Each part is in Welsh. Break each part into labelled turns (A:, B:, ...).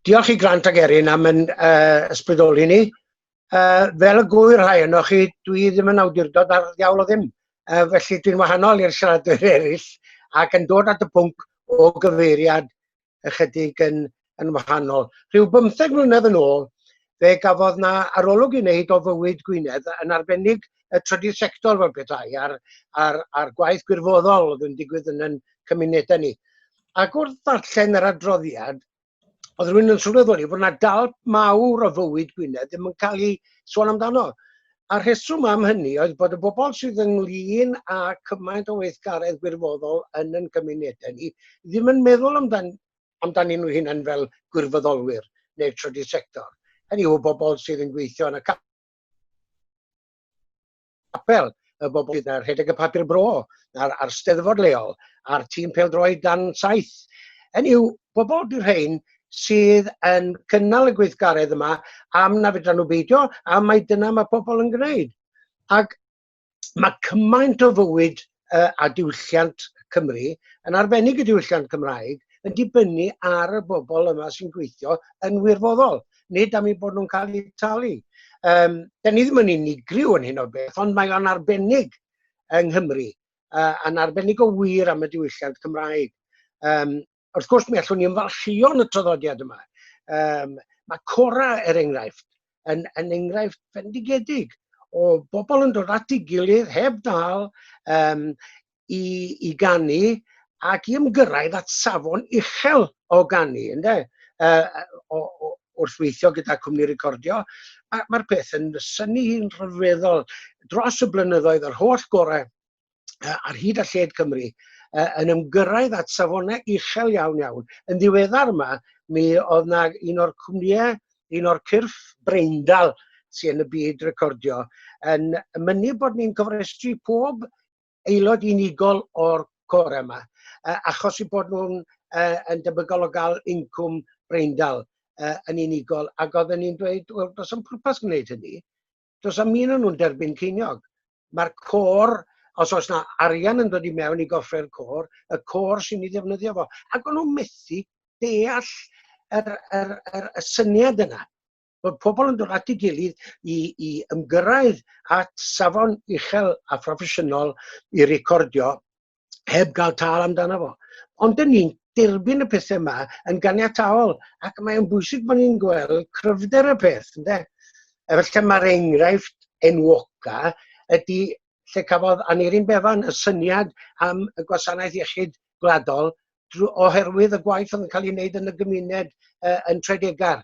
A: Diolch i Grant ac Erin am yn uh, ysbrydoli ni. Uh, fel y gwyr rhai yno chi, dwi ddim yn awdurdod ar ddiawl o ddim. Uh, felly dwi'n wahanol i'r siaradwyr eraill ac yn dod at y pwnc o gyfeiriad ychydig yn, yn wahanol. Rhyw bymtheg mlynedd yn ôl, fe gafodd na arolwg i wneud o fywyd Gwynedd yn arbennig y trydydd sector fel pethau a'r, ar, ar gwaith gwirfoddol oedd yn digwydd yn yn cymunedau ni. ac wrth ddarllen yr adroddiad, oedd rhywun yn sylweddoli bod yna dal mawr o fywyd Gwynedd ddim yn cael ei sôn amdano. A rheswm am hynny oedd bod y bobl sydd ynglyn â cymaint o weithgaredd gwirfoddol yn yn cymunedau ni ddim yn meddwl amdan, amdanyn nhw hunain fel gwirfoddolwyr neu'r trydydd sector. Hynny yw bobl sydd yn gweithio yn y capel y bobl gyda rhedeg y papur bro a'r, ar steddfod leol a'r tîm peldroed dan saith. Yn yw, bobl di'r rhain sydd yn cynnal y gweithgaredd yma am na fydra nhw beidio a mae dyna mae pobl yn gwneud. Ac mae cymaint o fywyd uh, a diwylliant Cymru, yn arbennig y diwylliant Cymraeg, yn dibynnu ar y bobl yma sy'n gweithio yn wirfoddol, nid am ei bod nhw'n cael eu talu. Um, da ni ddim yn unigryw yn hyn o beth, ond mae o'n arbennig yng Nghymru, uh, yn arbennig o wir am y diwylliant Cymraeg. Um, wrth gwrs, mi allwn ni ymfalchio'n y traddodiad yma. Um, mae Cora, er enghraifft, yn, yn enghraifft fendigedig o bobl yn dod at ei gilydd heb ddal um, i, i gannu ac i ymgyrraedd at safon uchel o gannu, ynddo? Uh, o, o, wrth weithio gyda cwmni recordio, mae'r mae peth yn syni hi'n rhyfeddol dros y blynyddoedd yr holl gorau ar hyd a lled Cymru yn ymgyrraedd at safonau uchel iawn iawn. Yn ddiweddar yma, mi oedd na un o'r cwmnïau, un o'r cyrff breindal sy'n yn y byd recordio, yn mynnu bod ni'n cofrestru pob aelod unigol o'r cor yma, achos i bod nhw'n yn debygol o gael incwm breindal yn unigol. Ac oedden ni'n dweud, wel, does am pwrpas gwneud hynny, Does am un o'n nhw'n derbyn ceiniog. Mae'r cor, os oes na arian yn dod i mewn i gofre'r cor, y cor sy'n ei ddefnyddio fo. Ac o'n nhw'n methu deall yr, yr, yr, y syniad yna bod pobl yn dod at ei gilydd i, i ymgyrraedd at safon uchel a phroffesiynol i recordio heb gael tal amdano fo. Ond dyn ni'n derbyn y pethau yma yn ganiataol ac mae'n bwysig bod ni'n gweld cryfder y peth. Ynde? Efallai mae'r enghraifft enwoca ydy lle cafodd Aneirin Bevan y syniad am y gwasanaeth iechyd gwladol oherwydd y gwaith oedd yn cael ei wneud yn y gymuned uh, yn Tredegar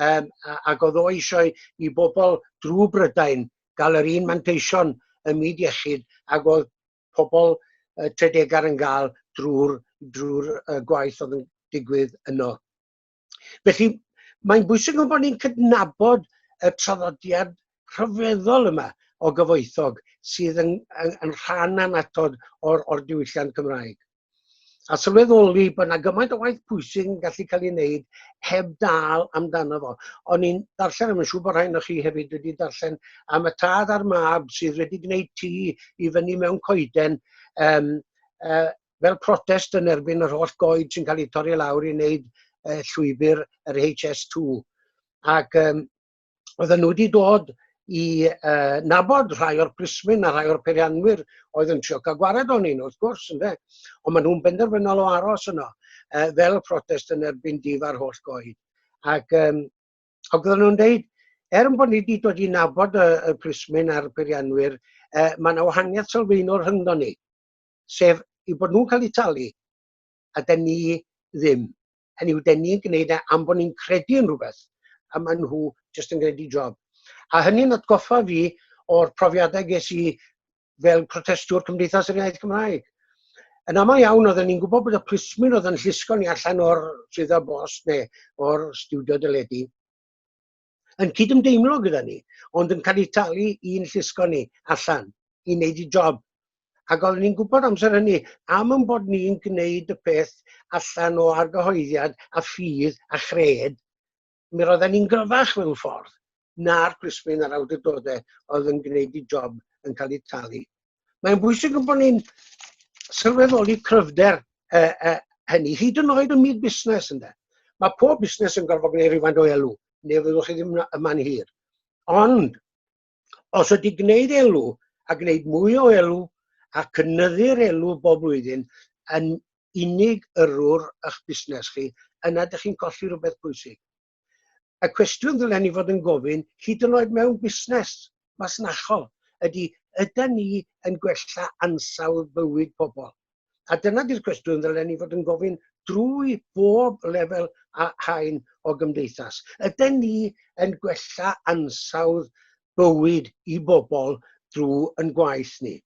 A: um, ac oedd o eisiau i bobl drwy Brydain gael yr un manteision y myd iechyd ac oedd pobl uh, Tredegar yn gael drwy'r drwy uh, gwaith oedd yn digwydd yno. Felly, mae'n bwysig bod ni'n cydnabod y traddodiad rhyfeddol yma o gyfoethog sydd yn, yn, yn rhan anatod o'r, or diwylliant Cymraeg. A sylweddoli bod yna gymaint o waith pwysig yn gallu cael ei wneud heb dal amdano fo. O'n i'n darllen, a mae'n siŵr bod rhain o chi hefyd wedi darllen, am y tad a'r mab sydd wedi gwneud tŷ i fyny mewn coeden um, uh, fel protest yn erbyn yr holl goed sy'n cael eu torri lawr i wneud uh, llwybr yr HS2. Ac um, oedden nhw wedi dod i uh, nabod rhai o'r plismyn a rhai o'r peirianwyr oedd yn trio cael gwared o'n un, wrth gwrs, ynddo. Ond maen nhw'n benderfynol o aros yno, uh, fel protest yn erbyn dif ar holl goed. Ac um, ac oedden nhw'n dweud, er bod ni wedi dod i nabod y, y plismyn a'r peirianwyr, uh, mae yna wahaniaeth sylfaenol rhyngdo ni, sef i bod nhw'n cael eu talu, a da ni ddim. hynny yw, dyn ni'n gwneud e am bod ni'n credu yn rhywbeth, a maen nhw jyst yn gwneud i job. A hynny'n atgoffa fi o'r profiadau ges i fel protestwr Cymdeithas yr Iaith Gymraeg. Yn aml iawn, oedden ni'n gwybod bod y plismyn oedd yn llusgo ni allan o'r swyddfa bos neu o'r stiwdio dyledu. yn cydymdeimlo gyda ni, ond yn cael ei talu i'n llusgo ni allan i wneud y job. Ac oeddwn ni'n gwybod amser hynny am yn bod ni'n gwneud y peth allan o argyhoeddiad a ffydd a chred, mi roedden ni'n gryfach mewn ffordd na'r plismyn a'r awdurdodau oedd yn gwneud y job yn cael ei talu Mae'n bwysig yn bod ni'n sylweddoli cryfder e, e, hynny, hyd yn oed yn myd busnes ynddo. Mae pob busnes yn gorfod gwneud rhywfaint o elw, neu fyddwch chi ddim yma'n hir. Ond, os ydy gwneud elw a gwneud mwy o elw a cynnyddu'r elw bob blwyddyn yn unig yrrwr eich busnes chi, yna ydych chi'n colli rhywbeth pwysig. Y cwestiwn ddylen ni fod yn gofyn, hyd yn oed mewn busnes masnachol, ydy, ydy ni yn gwella ansawdd bywyd pobl? A dyna di'r cwestiwn ddylen ni fod yn gofyn drwy bob lefel a hain o gymdeithas. Ydy ni yn gwella ansawdd bywyd i bobl drwy yn gwaith ni?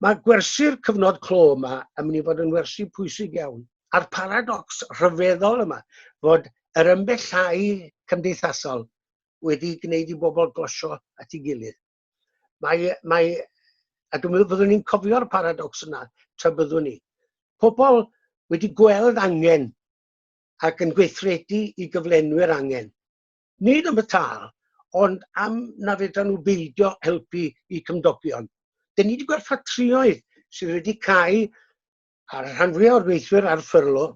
A: Mae gwersi'r cyfnod clo yma yn mynd i fod yn wersi pwysig iawn, a'r paradocs rhyfeddol yma fod yr ymbellhau cymdeithasol wedi gwneud i bobl glosio at ei gilydd. Mae, mae, a dwi'n meddwl byddwn ni'n cofio'r paradocs yna, tra byddwn ni. Pobl wedi gweld angen ac yn gweithredu i gyflenwi'r angen. Nid am y tâl, ond am na fedran nhw beidio helpu i cymdogion. Dyn ni wedi gweld ffatrïoedd sydd wedi cael a'r rhan fwyaf o'r gweithwyr ar ffyrlo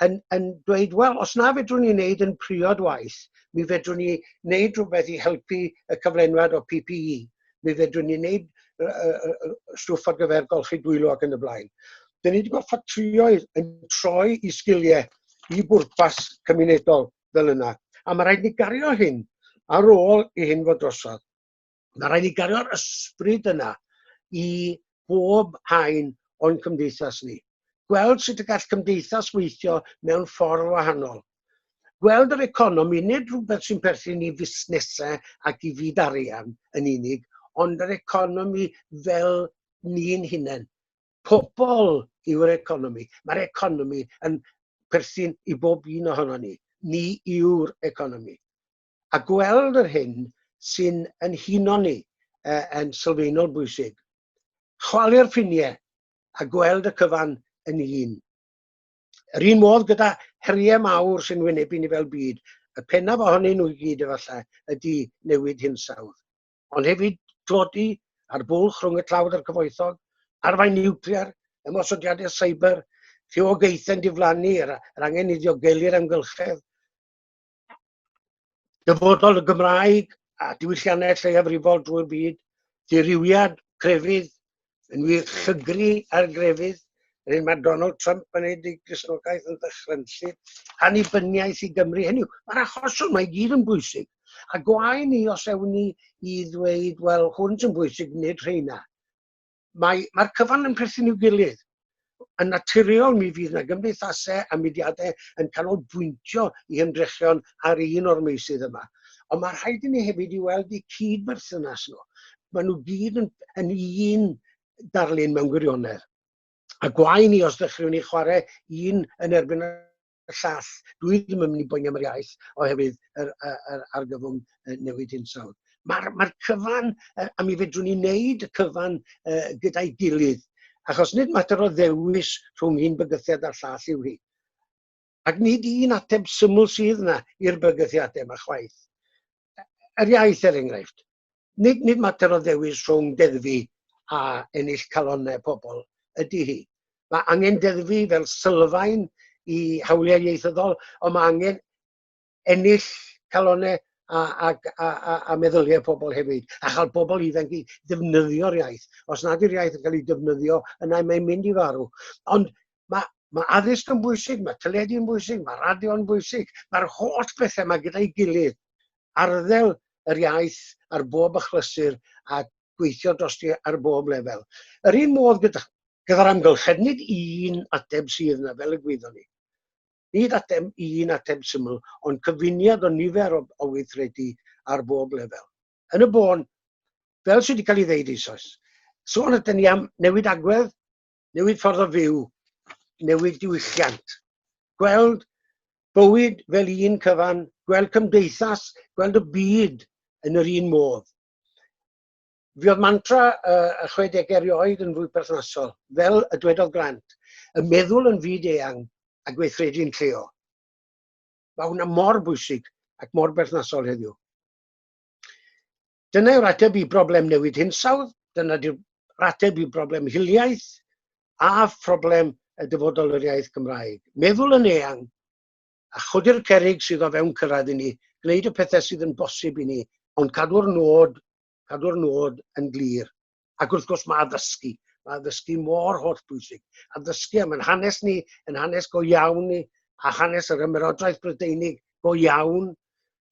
A: yn, yn dweud, wel, os na fedrwn ni wneud yn priod waith, mi fedrwn ni wneud rhywbeth i helpu y cyflenwad o PPE. Mi fedrwn ni wneud stwff ar gyfer golchi dwylo ac yn y blaen. Dyn ni wedi gweld ffatrïoedd yn troi i sgiliau i bwrpas cymunedol fel yna. A mae rhaid ni gario hyn ar ôl i hyn fod drosodd. Mae rhaid ni gario'r ysbryd yna i bob hain o'n cymdeithas ni. Gweld sut y gall cymdeithas weithio mewn ffordd wahanol. Gweld yr economi nid rhywbeth sy'n perthyn i fusnesau ac i fyd arian yn unig, ond yr economi fel ni'n hunain. pobl yw'r economi. Mae'r economi yn perthyn i bob un ohono ni. Ni yw'r economi. A gweld yr hyn sy'n yn huno ni uh, yn sylfaenol bwysig. Chwalu'r ffiniau a gweld y cyfan yn un. Yr un modd gyda heriau mawr sy'n wynebu ni fel byd, y pennaf ohonyn nhw i gyd efallai ydy newid hinsawdd. ond hefyd tlodi a'r bwlch rhwng y tlawd a'r cyfoethog, arwain niwclear, ymosodiadau cyber, rhywogaethau'n diflannu, yr, yr angen i ddiogelu'r amgylchedd, dyfodol y Gymraeg a diwylliannau lleiafrifol drwy'r byd, ddirywiad, crefydd, Yn wir, llygru ar grefydd, yr hyn mae Donald Trump yn ei i Gristnogaeth yn ddychrynllu, annibyniaeth i Gymru. Hynny yw, mae'r achosion mae gyd yn bwysig. A gwae ni os ewn ni i ddweud, wel, hwn sy'n bwysig, nid rheina. Mae'r mae cyfan yn perthyn i'w gilydd. Yn naturiol, mi fydd yna gymdeithasau a mudiadau yn canolbwyntio i hymdrechion ar un o'r meysydd yma. Ond mae rhaid i ni hefyd i weld y cyd-berthynas nhw. Mae nhw gyd yn, yn un darlun mewn gwirionedd. A gwae ni os ddechreuwn ni chwarae un yn erbyn y llall. Dwi ddim yn mynd i boeni am yr iaith oherwydd yr, yr, yr argyfwng newid hinsawdd. Mae'r mae cyfan, a mi fedrwn ni wneud y cyfan uh, gyda'i gilydd, achos nid mater o ddewis rhwng un bygythiad a'r llall yw hi. Ac nid un ateb syml sydd yna i'r bygythiadau yma chwaith. yr iaith er enghraifft. Nid, nid mater o ddewis rhwng deddfu a ennill calonau pobl ydy hi. Mae angen deddfu fel sylfaen i hawliau ieithyddol, ond mae angen ennill calonau a, a, a, a, a meddyliau pobl hefyd, a chael pobl ifanc i ddefnyddio'r iaith. Os nad yw'r iaith yn cael ei defnyddio, yna mae'n mynd i farw. Ond Mae, mae addysg yn bwysig, mae teledu yn bwysig, mae radio yn bwysig, mae'r holl bethau mae gyda'i gilydd. Arddel yr iaith ar bob achlysur a gweithio drosti ar bob lefel. Yr un modd gyda, gyda'r amgylchedd, nid un ateb sydd yna, fel y gwyddon ni. Nid ateb un ateb syml, ond cyfuniad o nifer o, o weithredu ar bob lefel. Yn y bôn, fel sydd wedi cael ei ddeud eisoes, sôn ydyn ni am newid agwedd, newid ffordd o fyw, newid diwylliant. Gweld bywyd fel un cyfan, gweld cymdeithas, gweld y byd yn yr un modd. Fi oedd mantra y 60au erioed yn fwy perthnasol, fel y dwedodd Grant, y meddwl yn fyd eang a gweithredu'n lleol. Mae hwnna mor bwysig ac mor berthnasol heddiw. Dyna yw'r ateb i broblem newid hinsawdd, dyna yw'r ateb i broblem hiliaeth a phroblem y dyfodol yr iaith Gymraeg. Meddwl yn eang a chodi'r cerig sydd o fewn cyrraedd i ni, gwneud y pethau sydd yn bosib i ni, ond cadw'r nod, cadw'r nod yn glir. Ac wrth gwrs mae addysgu. Mae addysgu mor holl bwysig. Addysgu am yn hanes ni, yn hanes go iawn ni, a hanes yr ymerodraeth Brydeinig go iawn.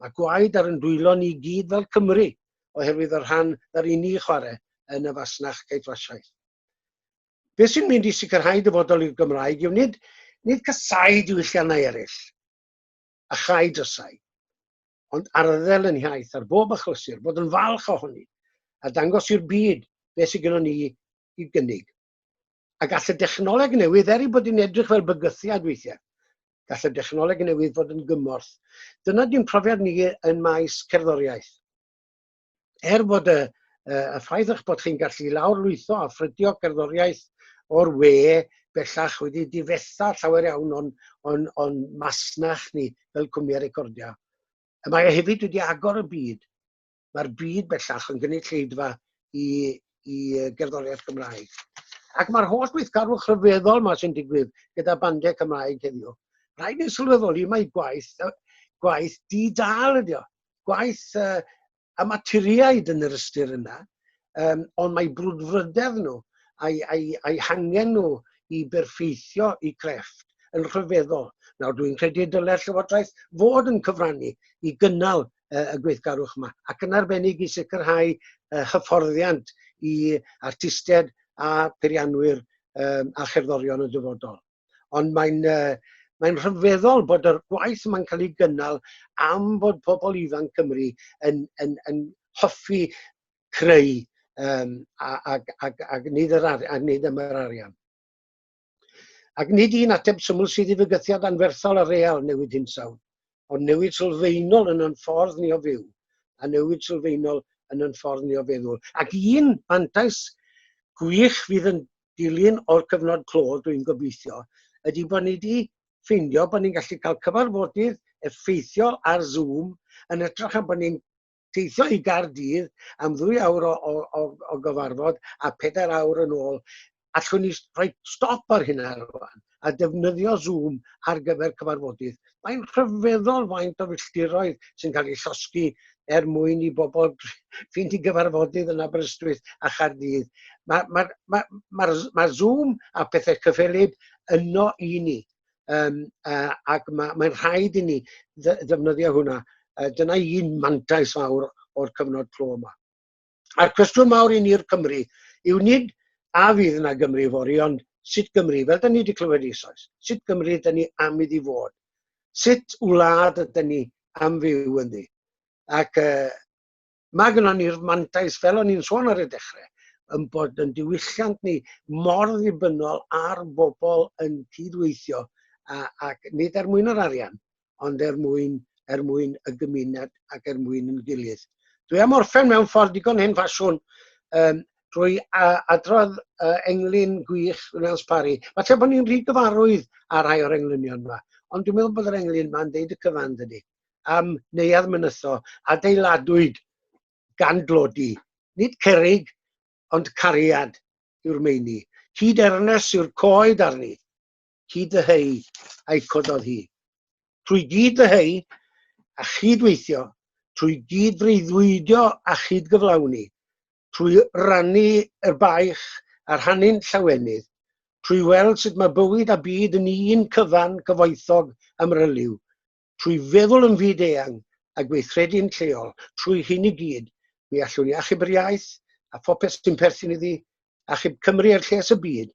A: Mae gwaed ar yn dwylo ni gyd fel Cymru oherwydd y rhan yr i ni chwarae yn y fasnach caethwasiaeth. Be sy'n mynd i sicrhau dyfodol i'r Gymraeg yw nid, nid casau diwylliannau eraill, a chau drysau, ond arddel yn hiaith ar bob achlysur, bod yn falch ohoni, a dangos i'r byd beth sydd gennym ni i gynnig. A gall y dechnoleg newydd, er ei bod yn edrych fel bygythiad weithiau, gall y dechnoleg newydd fod yn gymorth. Dyna di'n profiad ni yn maes cerddoriaeth. er bod y, y ffaith eich bod chi'n gallu lawrlwytho a ffrydio gerddoriaeth o'r we bellach wedi difetha llawer iawn o'n, on, on masnach ni fel cwmni recordia. Y mae e hefyd wedi agor y byd. Mae'r byd bellach yn gynulleidfa i, i gerddoriaeth Gymraeg. Ac mae'r holl weithgarwch rhyfeddol yma sy'n digwydd gyda bandiau Cymraeg heddiw. Rhaid ni'n sylweddoli mae gwaith, gwaith di-dal ydi o. gwaith uh, amaturiaid yn yr ystyr yna, um, ond mae brwdfrydedd nhw a'i, a'i, a'i hangen nhw i berffeithio i crefft yn rhyfeddol. Nawr, dwi'n credu y dylai'r Llywodraeth fod yn cyfrannu i gynnal uh, y gweithgarwch yma, ac yn arbennig i sicrhau uh, hyfforddiant i artistiaid a peirianwyr um, a cherddorion y dyfodol. Ond mae'n uh, mae'n rhyfeddol bod yr gwaith yma'n cael ei gynnal am bod pobl ifanc Cymru yn, yn, yn hoffi creu um, ac, ac, ac, nid yr ar, ac nid am yr arian. Ac nid un ateb syml sydd i fygythiad anferthol a real newid hinsawdd, ond newid sylfaenol yn o'n ffordd ni o fyw, a newid sylfaenol yn o'n ffordd ni o feddwl. Ac un fantais gwych fydd yn dilyn o'r cyfnod clo, dwi'n gobeithio, ydy bod ni wedi ffeindio bod ni'n gallu cael cyfarfodydd effeithiol ar Zoom yn ytrach na bod ni'n teithio i Gaerdydd am ddwy awr o, o, o, o gyfarfod a pedair awr yn ôl. Allwn ni rhoi stop ar hynna rwan. a defnyddio Zoom ar gyfer cyfarfodydd. Mae'n rhyfeddol faint o filltiroedd sy'n cael ei llosgi er mwyn i bobl fynd i gyfarfodydd yn Aberystwyth a Chaerdydd. Mae ma, ma, ma, ma Zoom a pethau cyffelyb yno i ni, um, uh, ac mae'n ma rhaid i ni ddefnyddio hwnna. Uh, dyna un mantais fawr o'r cyfnod clo yma. A'r cwestiwn mawr i ni'r Cymru yw nid a fydd yna Gymru fori, ond sut Gymru, fel da ni wedi clywed eisoes, sut Gymru da ni am iddi fod, sut wlad ydy ni am fyw yn ddi. Ac uh, mae gyda ni'r mantais, fel o'n i'n sôn ar y dechrau, yn bod yn diwylliant ni mor ddibynnol ar bobl yn cydweithio ac nid er mwyn yr arian, ond er mwyn, er mwyn y gymuned ac er mwyn yn gilydd. Dwi am orffen mewn ffordd digon hen ffasiwn um, drwy adrodd uh, englyn gwych Rwnaels Parry. Mae tra bod ni'n rhy gyfarwydd ar rhai o'r englynion yma, ond dwi'n meddwl bod yr englyn yma'n deud y cyfan dydy, am neuad mynytho adeiladwyd gan glodi, nid cerig, ond cariad yw'r meini. Hyd ernes yw'r coed arni, hyd y hei, a'i cododd hi. Trwy gyd y hei, a chydweithio, trwy gyd freuddwydio a chydgyflawni, trwy rannu yr baich a rhannu'n llawenydd, trwy weld sut mae bywyd a byd yn un cyfan cyfoethog amryliw, trwy feddwl yn fyd-eang a gweithredu'n lleol, trwy hyn i gyd, mi allwn ni achub yr iaith a phopeth sy'n perthyn iddi, achub Cymru a'r lles y byd,